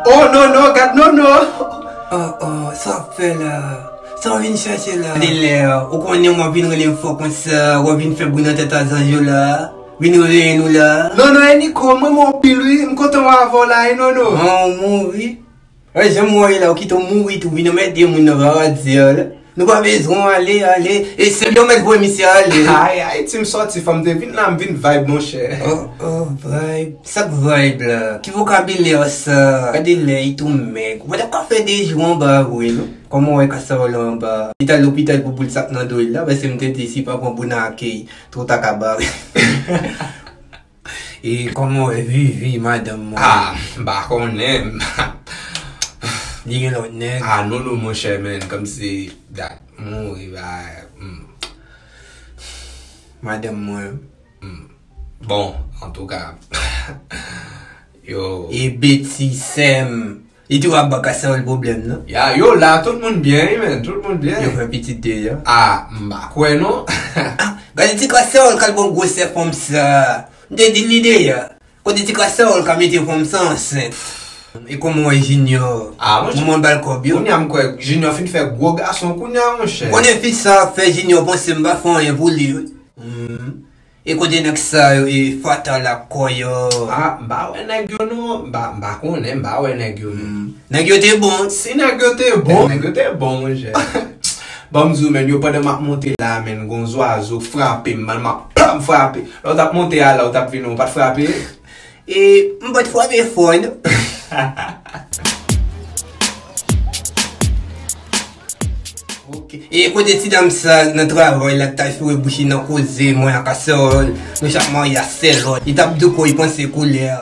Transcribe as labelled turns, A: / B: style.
A: Oh non non gad non non Oh oh
B: sa wap fè la Sa w vin chèche la Gade lè a Ou konnen wap vin rele m fò konsa Wap vin fè bri nan tèt a zanj yo la Vin reveye nou la Non non e Niko m
A: renmen w anpil wi M kontan wè avè w la e non non An ou mouri
B: Wè janm wè w ye la ou kite w mouri tou vin anmède moun nan rara di a la nou pa bezwen w ale ale e sèl yon mèt voye misye ale. Ay ay ti m sòti
A: fò m te vin la m vin vibe monchè. Oh oh
B: vibe sa k vibe la ki vokabilè sa gade lè i tou mèg ou pa tap ka fè 2 jou anba a vre non kòman w wè kasa w lan anba a li t al lopital pou boul sa k nan do l la paske m te di si pa pran bouna ak twou ta ka bare. E koman w wè vivi madanm mwen. Ah m pa
A: konnen.
B: Li gen lot neg. Ah non non monchè
A: men komsi dat mouri bay humm.
B: Madanm mwen humm.
A: Bon antouka yo. E beti
B: sèm. Li tou ap ba Cassandre pwoblèm non. Ya yo la tout moun
A: byen wi menn tout moun byen. Yo fè pitit deja.
B: Ah m pa kwè
A: non. Ah gade ti
B: cassandre kal pran gwosè fanm sa m te dil li deja kote ti cassandre ka mete fanm sa ansent e koman wè junior moman bal
A: kob yo. Kounya m
B: kwè junior
A: fin fè gwo gason kounya monchè. M konnen fi sa ap fè
B: junior panse m pa fè anyen pou li wi. E kote nèg sa yo e fatal ak kò yo. Ah m pa wè
A: nèg yo non m pa m pa konnen m pa wè nèg yo non. Nèg yo te bon
B: si nèg yo te
A: bon. Nèg yo te bon monchè. Banm di w menn yo pandan map monte la menn gon zwazo k frape m man map pam frape lè w tap monte a la w tap vini w pat frape. E
B: m pat frape fò non. E kote ti dam sa nan travay la ki ta foure bouch li nan koze mwen ak Assarl. Nou chak marye ak sè lòt. Li tap douko li panse koulè a.